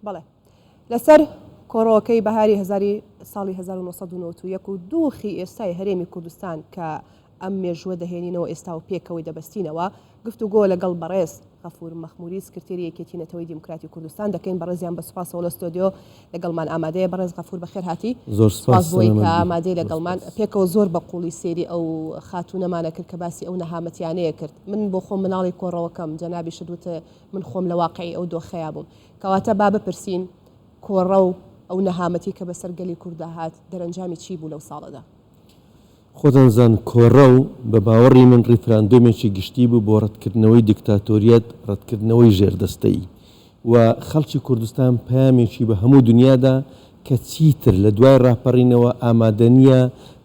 بەڵێ لەسەر کۆڕۆکەی بەهاری هەزاری ساڵی هەزار و نۆ سەد و نەوەد و یەک و دوخی ئێستای هەرێمی کوردستان کە ئەم مێژووە دەهێنینەوە ئێستا و پێکەوەی دەبەستینەوە گفتوگۆ لەگەڵ بەڕێز غەفور مەخموری سکرتێری یەکێتی نەتەوەی دیموکراتی کوردستان دەکەین بەڕێزیان بە سوپاسەوە لە ستۆدیۆ لەگەڵمان ئامادەیە بەڕێز غەفور بەخێرهاتی زۆر سوپاس بۆی کە ئامادەی لەگەڵمان پێکەوە زۆر بە قوڵی سێری ئەو خاتونەمانە کرد کە باسی ئەو نەهامەتیانەیە کرد من بۆ خۆم مناڵی کۆڕەوەکەم جەنابیشت وتە من خۆم لە واقعی ئەو دۆخەیا بووم کەواتە با بپرسین کۆڕە و ئەو نەهامەتی کە بەسەر گەلی کورددا هات دەرەنجامی چی بوو لەو ساڵەدا؟ خۆتان زان کۆڕە و بە باوەڕی من ڕیفراندۆمێکی گشتی بوو بۆ ڕەتکردنەوەی دیکتاتۆریەت، ڕەتکردنەوەی ژێردەستەیی و خەڵکی کوردستان پەیامێکی بە هەموو دنیا دا کە چیتر لە دوای ڕاپەڕینەوە ئامادە نییە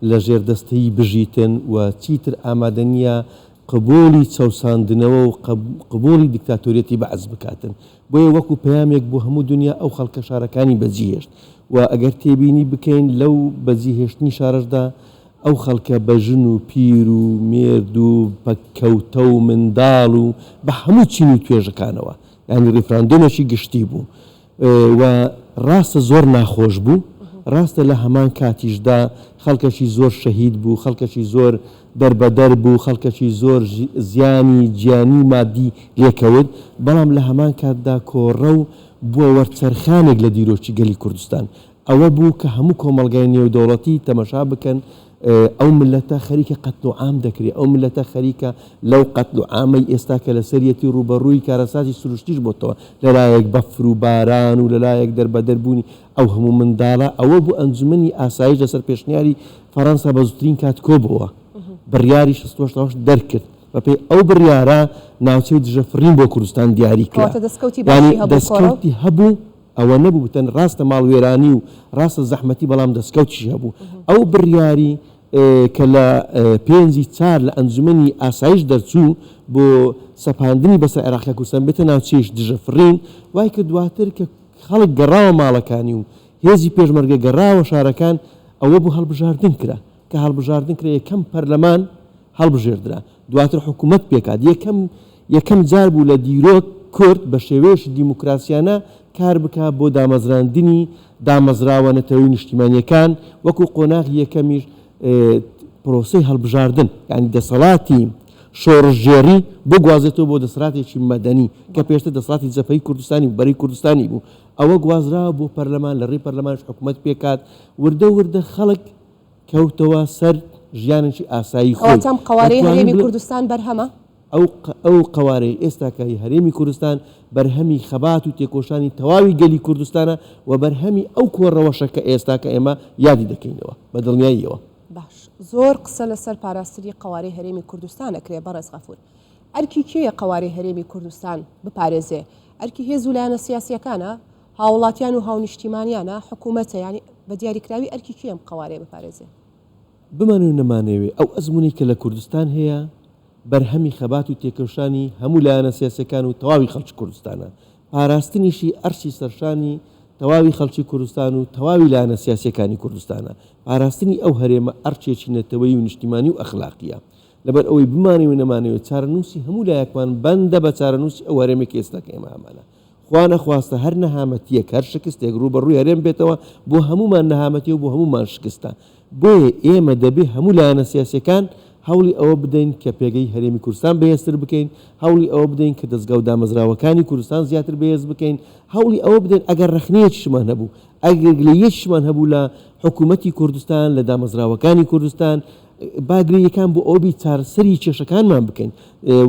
لە ژێردەستەیی بژیتن و چیتر ئامادە نییە قبوڵی چەوساندنەوە و قبوڵی دیکتاتۆریەتی بەعس بکاتن، بۆیە وەکو پەیامێک بۆ هەموو دونیا ئەو خەڵکە شارەکانی بەجیهێشت و ئەگەر تێبینی بکەین لەو بەجیهێشتنی شارەشدا ئەو خەڵکە بە ژن و پیر و مێرد و پەککەوتە و منداڵ و بە هەموو چین و توێژەکانەوە یانی ڕیفراندۆمێکی گشتی بوو و ڕاستە زۆر ناخۆش بوو، ڕاستە لە هەمان کاتیشدا خەڵکەکی زۆر شەهید بوو، خەڵکەکی زۆر دەربەدەر بوو، خەڵکەکی زۆر زیانی گیانی و مادی لێکەوت، بەڵام لە هەمان کاتدا کۆڕەو بووە وەرچەرخانێک لە دیرۆکی گەلی کوردستان، ئەوە بوو کە هەموو کۆمەڵگای نێودەوڵەتی تەمەشا بکەن ئەو ملەتە خەریکە قەتل و عام دەکرێ، ئەو ملەتە خەریکە لەو قەتل و عامەی ئێستا کە لەسەریەتی ڕووبەڕووی کارەساتی سروشتیش بۆتەوە، لەلایەک بەفر و باران و لەلایەک دەربەدەر بوونی ئەو هەموو منداڵە، ئەوە بوو ئەنجومەنی ئاسایش لەسەر پێشنیاری فەرەنسا بە زووترین کات کۆبۆوە، بڕیاری شەست و هەشت ڕۆژ دەرکرد، بەپێی ئەو بڕیارە ناوچەی دژە فڕین بۆ کوردستان دیاری کرا، یانی دەسکەوتی هەبوو. ئەوە نەبوو بتەن ڕاستە ماڵ وێرانی و ڕاستە زەحمەتی بەڵام دەسکەوتیشی هەبوو ئەو بڕیاری کە لە پێنجی چار لە ئەنجومەنی ئاسایش دەرچوو بۆ سەپاندنی بەسەر عێراق لە کوردستان بێتە ناوچەیش دژە فڕین وای کرد دواتر کە خەڵک گەڕاوە ماڵەکانی و هێزی پێشمەرگە گەڕاوە شارەکان ئەوە بۆ هەڵبژاردن کرا. کە هەڵبژاردن کرا یەکەم پەرلەمان هەڵبژێردرا دواتر حکوومەت پێکات یەکەم یەکەم جار بوو لە دیرۆک کورد بە شێوەیەشی دیموکراسیانە کار بکا بۆ دامەزراندنی دامەزراوە نەتەوەی نیشتیمانیەکان وەکو قۆناغی یەکەمیش پرۆسەی هەڵبژاردن یعنی دەسەڵاتی شۆڕشگێڕی بگوازێتەوە بۆ دەسەڵاتێکی مەدەنی کە پێشتر دەسەڵاتی جەپەی کوردستانی و بەری کوردستانی بوو ئەوە گوازرا بۆ پەرلەمان لە ڕێی پەرلەمانش حکوومەت پێکات وردە وردە خەڵک کەوتەوە سەر ژیانێکی ئاسایی خۆی. کەواتە ئەم قەوارەی هەرێمی کوردستان بەرهەمە؟ ئەو قەوارەی ئێستاکە ی هەرێمی کوردستان بەرهەمی خەبات و تێکۆشانی تەواوی گەلی کوردستانە و بەرهەمی ئەو کۆ رەوەشە کە ئێستاکە ئێمە یادی دەکەینەوە بە دڵنیاییەوە. باش زۆر قسە لە سەر پاراستنی قەوارەی هەرێمی کوردستان ئەکرێ بەڕێز غەفور. ئەرکی کێیە قەوارەی هەرێمی کوردستان بپارێزێ؟ ئەرکی هێز و لایەنە سیاسییەکانە؟ هاوڵاتیان و هاونیشتیمانیانە، حکومەتە، یانی بە دیاریکراوی ئەرکی کێیە ئەم قەوارەیە بپارێزێ؟ بمانەوێ نەمانەوێ ئەو ئەزموونەی کە لە کوردستان هەیە بەرهەمی خەبات و تێکۆشانی هەموو لایەنە سیاسیەکان و تەواوی خەڵکی کوردستانە، پاراستنیشی ئەرشی سەرشانی تەواوی خەڵکی کوردستان و تەواوی لایەنە سیاسیەکانی کوردستانە، پاراستنی ئەو هەرێمە ئەرکێکی نەتەوەیی و نیشتیمانی و ئەخلاقیە. لەبەرئەوەی بمانەوێ نەمانەوێ چارەنووسی هەموو لایەکمان بەندە بە چارەنووسی ئەو هەرێمەی کە ئێستا کە ئێمە هەمانە. خوا نەخواستە هەر نەهامەتییەک، هەر شکستێک ڕووبەڕووی هەرێم بێتەوە، بۆ هەموومان نەهامەتییە و بۆ هەموومان شکستە. بۆیە ئێمە دەبێ هەموو لایەنە سیاسییەکان هەوڵی ئەوە بدەین کە پێگەی هەرێمی کوردستان بەهێزتر بکەین، هەوڵی ئەوە بدەین کە دەزگا و دامەزراوەکانی کوردستان زیاتر بەهێز بکەین، هەوڵی ئەوە بدەین ئەگەر ڕەخنەیەکیشمان هەبوو، ئەگەر گلەییەکیشمان هەبوو لە حکوومەتی کوردستان، لە دامەزراوەکانی کوردستان، با گرنگەکان بۆ ئەوە بی چارەسەری کێشەکانمان بکەین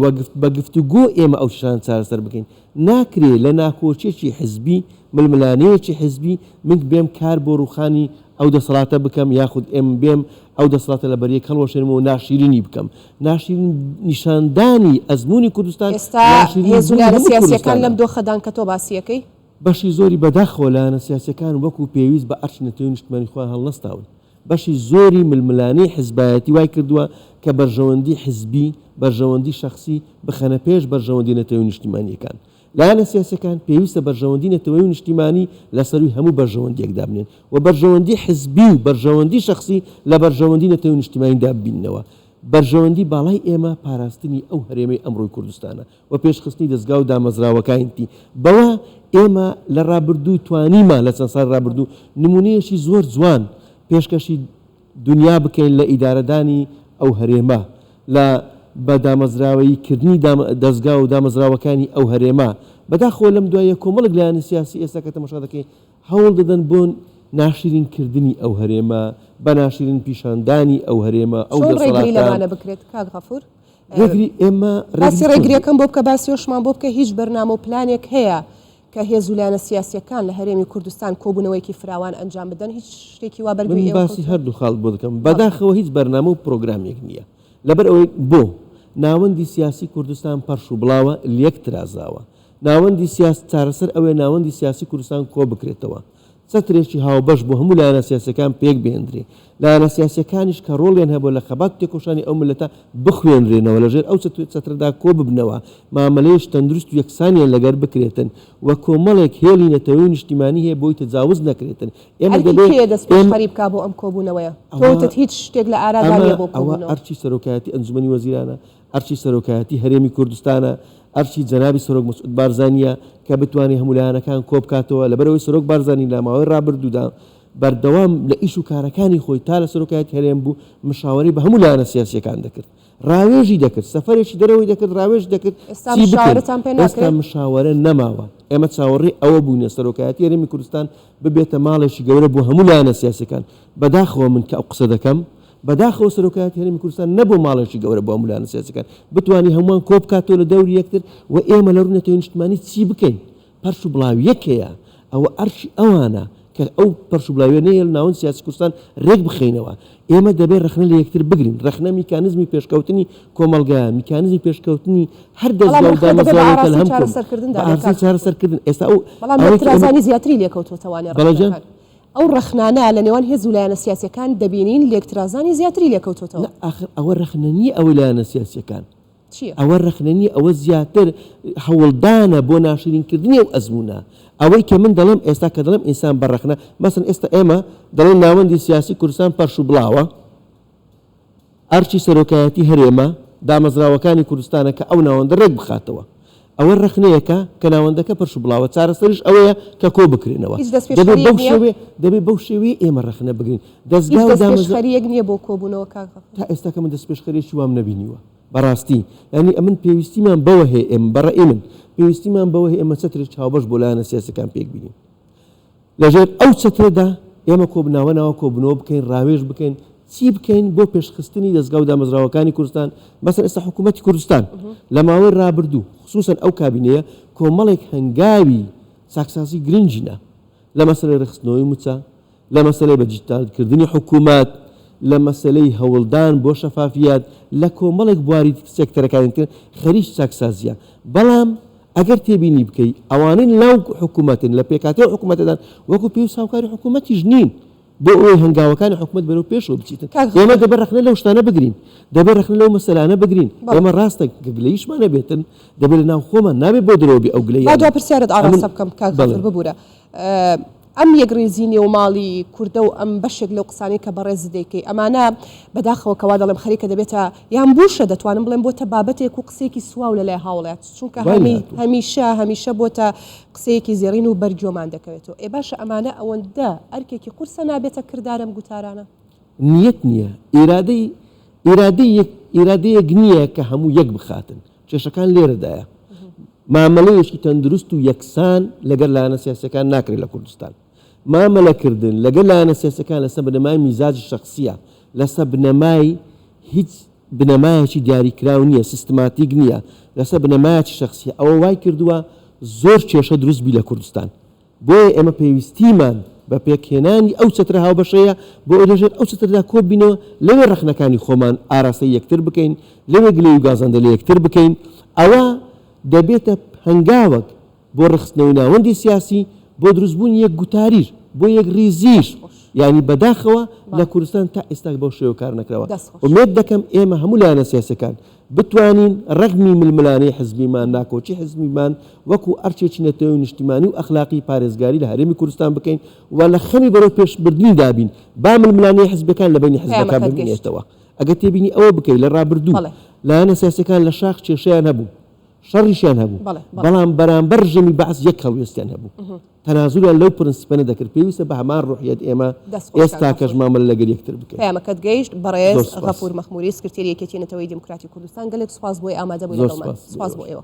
و بە گفتوگۆ ئێمە ئەو کێشانە چارەسەر بکەین. ناکرێ لە ناکۆکیەکی حزبی، ململانێیەکی حزبی من بێم کار بۆ رووخانی ئەو دەسەڵاتە بکەم یاخود ئێم بێم ئەو دەسەڵاتە لە بەریەک هەڵوەشێنم و ناشیرینی بکەم. ناشیرین نیشاندانی ئەزموونی کوردستان ئێستا هێز و لایەنە سیاسییەکان لەم دۆخەدان کە تۆ باسیەکەی؟ بەشی زۆری بەداخەوە لایەنە سیاسییەکان وەکو پێویست بە ئەرکی نەتەوەی نیشتمانی خۆیان هەڵنەستاون. بەشی زۆری ململانێی حزبایەتی وای کردووە کە بەرژەوەندی حزبی، بەرژەوەندی شەخسی بخەنە پێش بەرژەوەندی نەتەوەی و نیشتیمانییەکان. لایەنە سیاسییەکان پێویستە بەرژەوەندی نەتەوەی و نیشتیمانی لە سەرووی هەموو بەرژەوەندییەک دابنێن و بەرژەوەندی حزبی و بەرژەوەندی شەخسی لە بەرژەوەندی نەتەوەی و نیشتیمانی دا ببیننەوە. بەرژەوەندی باڵای ئێمە پاراستنی ئەو هەرێمەی ئەمڕۆی کوردستانە. و پێشخستنی دەزگا و دامەزراوەکاینتی بەوە ئێمە لە ڕابردوو توانیمان لە چەند ساڵی ڕابردوو نمونەیەکی زۆر جوان پێشکەشی دونیا بکەین لە ئیدارەدانی ئەو هەرێمە لە بە دامەزراوەیی کردنی دەزگا و دامەزراوەکانی ئەو هەرێمە بەداخەوە لەم دواییە کۆمەڵێک لایەنی سیاسی ئێستا کە تەماشا دەکەین هەوڵ دەدەن بۆ ناشرین کردنی ئەو هەرێمە بە ناشرین پیشاندانی ئەو هەرێمە ئەو چۆن ڕێگری دەسەڵاتە لەمانە بکرێت کاک غەفور؟ ڕێگری ئێمە باسی ڕێگریەکەم بۆ بکە باسیۆشمان بۆ بکە هیچ بەرنامە و پلانێک هەیە کە هێز و لایەنە سیاسەکان لە هەرێمی کوردستان کۆبوونەوەیکی فراوان ئەنجام بدەن هیچ شتێکی وا بەرگری باسی هەردوو خاڵ بۆ دەکەم بەداخەوە هیچ بەرنامە و پرۆگرامێک نییە لەبەر ئەوەی بۆ ناوەندی سیاسی کوردستان پەرش و بڵاوە لەک ترازاوە ناوەندی سیاست چارەسەر ئەوەیە ناوەندی سیاسی کوردستان کۆ بکرێتەوە چەترێکی هاوبەش بۆ هەموو لایەنە سیاسیەکان پێک بهێندرێ، لایەنە سیاسیەکانیش کە ڕۆڵیان هەبووە لە خەبات و تێکۆشانی ئەو میللەتە بخوێنرێنەوە لە ژێر ئەو چەترەدا کۆ ببنەوە، مامەلەیش تەندروست و یەکسانیان لەگەر بکرێتن و کۆمەڵێک هێڵی نەتەوەی و نیشتیمانی هەیە بۆی تەجاوز نەکرێتن، ئێمە دەبێ ئێمە. ئەرکی کێیە دەست پێشخەری بکا بۆ ئەم کۆبوونەوەیە؟ تۆ وتت هیچ شتێک لە ئارادا نیە بۆ کۆبوونەوە. ئەوە ئەرکی سەرۆکایەتی ئەنجومەنی وەزیرانە، ئەرکی سەرۆکایەتی هەرێمی کوردستانە، ئەرکی جەنابی سەرۆک مسعود بارزانییە کە بتوانێ هەموو لایەنەکان کۆبکاتەوە، لەبەرئەوەی سەرۆک بارزانی لە ماوەی رابردوودا بەردەوام لە ئیش و کارەکانی خۆی تا لە سەرۆکایەتی هەرێم بوو مشاوەرەی بە هەموو لایەنە سیاسییەکان دەکرد، راوێژی دەکرد، سەفەرێکی دەرەوەی دەکرد راوێژ دەکرد چی بکەین، ئێستا مشاوەرە نەماوە، ئێمە چاوەڕێی ئەوە بووینە سەرۆکایەتی هەرێمی کوردستان ببێتە ماڵێکی گەورە بۆ هەموو لایەنە سیاسییەکان، بەداخەوە من کە ئەو قسە دەکەم بەداخەوە سەرۆکایەتی هەرێمی کوردستان نەبووە ماڵێکی گەورە بۆ ئەم لایەنە سیاسیەکان بتوانی هەمووان کۆبکاتەوە لە دەوری یەکتر و ئێمە لە رووی نەتەوەی نیشتمانی چی بکەین پەرش و بڵاویەک هەیە ئەوە ئەرکی ئەوانە کە ئەو پەرش و بلاویەنەیە لە ناوەند سیاسی کوردستان رێک بخەینەوە ئێمە دەبێت رەخنە لە یەکتر بگرین رەخنە میکانزمی پێشکەوتنی کۆمەڵگایە میکانزمی پێشکەوتنی هەر دەزگا و دامەزراوەکە لە هەم کردن بە ئارزی چارەسەرکردن ئێستا ئەو بەڵام ئەوەی کە ئێمە- ترازانی زیاتری لێکەوتووە توانێ بەڵێ رەخنە جان. بکات. ئەو ڕەخنانە لە نێوان هێز و لایەنە سیاسیەکان دەبینین لێکترازانی زیاتری لێکەوتۆتەوە. نا ئاخر ئەوە ڕەخنە نیە ئەوەی لایەنە سیاسیەکان چیە؟ ئەوە ڕەخنە نیە ئەوە زیاتر هەوڵدانە بۆ ناشرین کردنی ئەو ئەزمونە. ئەوەی کە من دەڵێم ئێستا کە دەڵێم ئینسان بە ڕەخنە مەسەن ئێستا ئێمە دەڵێن ناوەندی سیاسی کوردستان پەرش و بڵاوە، ئەرکی سەرۆکایەتی هەرێمە دامەزراوەکانی کوردستانە کە ئەو ناوەندە رێک بخاتەوە. ئەوە رەخنەیەکە کە ناوەندەکە پرش و بڵاوە، چارەسەریش ئەوەیە کە کۆ بکرێنەوە. هیچ دەبێت دەستپێشخەرییەک بەو نییە؟ شێوەیە دەبێت بەو شێوەیە ئێمە رەخنە بگرین. هیچ دەزگا و دامەزرا. دەستپێشخەرییەک نییە بۆ کۆبوونەوە کاک غەفور؟ تا ئێستا کە من دەستپێشخەرییەکی وام نەبینیوە بەڕاستی. یانی ئەمن پێویستیمان بەوە هەیە ئێمە، بە رەئی من، پێویستیمان بەوە هەیە ئێمە چەترێکی هاوبەش بۆ لایەنە سیاسییەکان پێک بینین. لەژێر ئەو چەترەدا ئێمە کۆبناوەناوە کۆببنەوە بکەین، راوێژ بکەین، چی بکەین بۆ پێشخستنی دەزگا و دامەزراوەکانی کوردستان، مەسەن ئێستا حکوومەتی کوردستان لە ماوەی رابردوو خسووسەن ئەو کابینەیە کۆمەڵێک هەنگاوی چاکسازی گرنگی نا لە مەسەلەی رێکخستنەوەی مووچە، لە مەسەلەی بەدیجیتالکردنی حکوومەت، لە مەسەلەی هەوڵدان بۆ شەفافیەت، لە کۆمەڵێک بواری سێکتەرەکانی تر خەریکی چاکسازییە، بەڵام. ئەگەر تێبینی بکەی ئەوانەی ناو حکومەتن لە پێکهاتەی حکومەتەدان وەکو پێویست هاوکاری حکومەتیش نین بۆ ئەوەی هەنگاوەکانی حکومەت بەرەو پێشەوە بچیتن کاک ئێمە هۆمەر دەبێ ڕەخنە لەو شتانە بگرین دەبێ ڕەخنە لەو مەسەلانە بگرین بەڵێ. ئێمە ڕاستە گلەییشمان نەبێتن دەبێ لەناو خۆمان نابێ بۆ درەوە بێ ئەو گلەییانە با دوا پرسیارت ئاڕاستە بکەم کاک بەڵێ. غەفور ببورە ئە، ئەم یەکڕیزی نێو ماڵی کوردە و ئەم بەشێک لەو قسانەی کە بەڕێزت دەیکەی ئەمانە بەداخەوە کە وا دەڵێم خەریکە دەبێتە یان بوشە دەتوانم بڵێم بۆتە بابەتێک و قسەیەکی سواو لە لای هاوڵات چونکە هەمی هەمیشە هەمیشە بۆتە قسەیەکی زێڕین و بەر گۆمان دەکەوێتەوە ئێ باشە ئەمانە ئەوەندە ئەرکێکی قورسە نابێتە کردارەم گوتارانە. نیەت نیە ئیرادەی ئیرادەی یەک ئیرادەیەک نیە کە هەموو یەک بخاتن. کێشەکان لێرەدایە. مامەلەیەکی تەندروست و یەکسان لەگەر لایەنە سیاسیەکان ناکرێت لە کوردستان. مامەلەکردن لەگەر لایەنە سیاسیەکان لەسەر بنەمای میزاجی شەخسیە، لەسە بنەمای هیچ بنەمایەکی دیاریکراو نیە، سیستماتیک نیە، لەسەر بنەمایەکی شەخسیە، ئەوە وایکردوە زۆر کێشە دروست بی لە کوردستان. بۆیە ئێمە پێویستیمان بە پێکهێنانی ئەو چەترە هاوبەشەیە بۆ ئەوەی لەژێر ئەو چەترەدا کۆببینەوە، لەوێ ڕەخنەکانی خۆمان ئاراستەی یەکتر بکەین، لەوێ گلەیی و گازەندە لە یەکتر بکەین، ئەوە دەبێتە هەنگاوەک بۆ ڕێکخستنەوەی ناوەندی سیاسی، بۆ دروستبوونی یەک گوتاریش، بۆ یەکڕیزیش، یانی بەداخەوە لە کوردستان تا ئێستا بەو شێوە کار نەکراوە، ئومێد دەکەم ئێمە هەموو لایەنە سیاسییەکان، بتوانین ڕەخنەی ململانێی حزبیمان، ناکۆکی حزبیمان وەکو ئەرکێکی نەتەوەی و نیشتیمانی و ئەخلاقی پارێزگاری لە هەرێمی کوردستان بکەین و لە خەمی بەرەو پێش بردنیدا بین، با ململانێی حزبیەکان لە بەینی حزبەکان پەیامەکەت گەیشت. بمێنێتەوە. ئەگەر تێبینی ئەوە بکەیت لە ڕابردوو بەڵێ. لایەنە سیاسیەکان لە شاخ کێشەیان هەبوو. شەڕیشیان هەبوو، بەڵام بەرامبەر ڕژێمی بەعس یەک هەڵوێستیان هەبوو، تەنازولیان لەو پرنسیپە نەدەکرد، پێویستە بە هەمان ڕوحیەت ئێمە ئێستاکەش مامەلە لەگەل یەکتر بکەین. پەیامەکەت گەیشت بەڕێز غەفور مەخموری سکرتێری یەکێتی نەتەوەیی دیموکراتی کوردستان، گەلێک سوپاس بۆی ئامادەبووی لەگەڵمان. سوپاس بۆ ئێوە.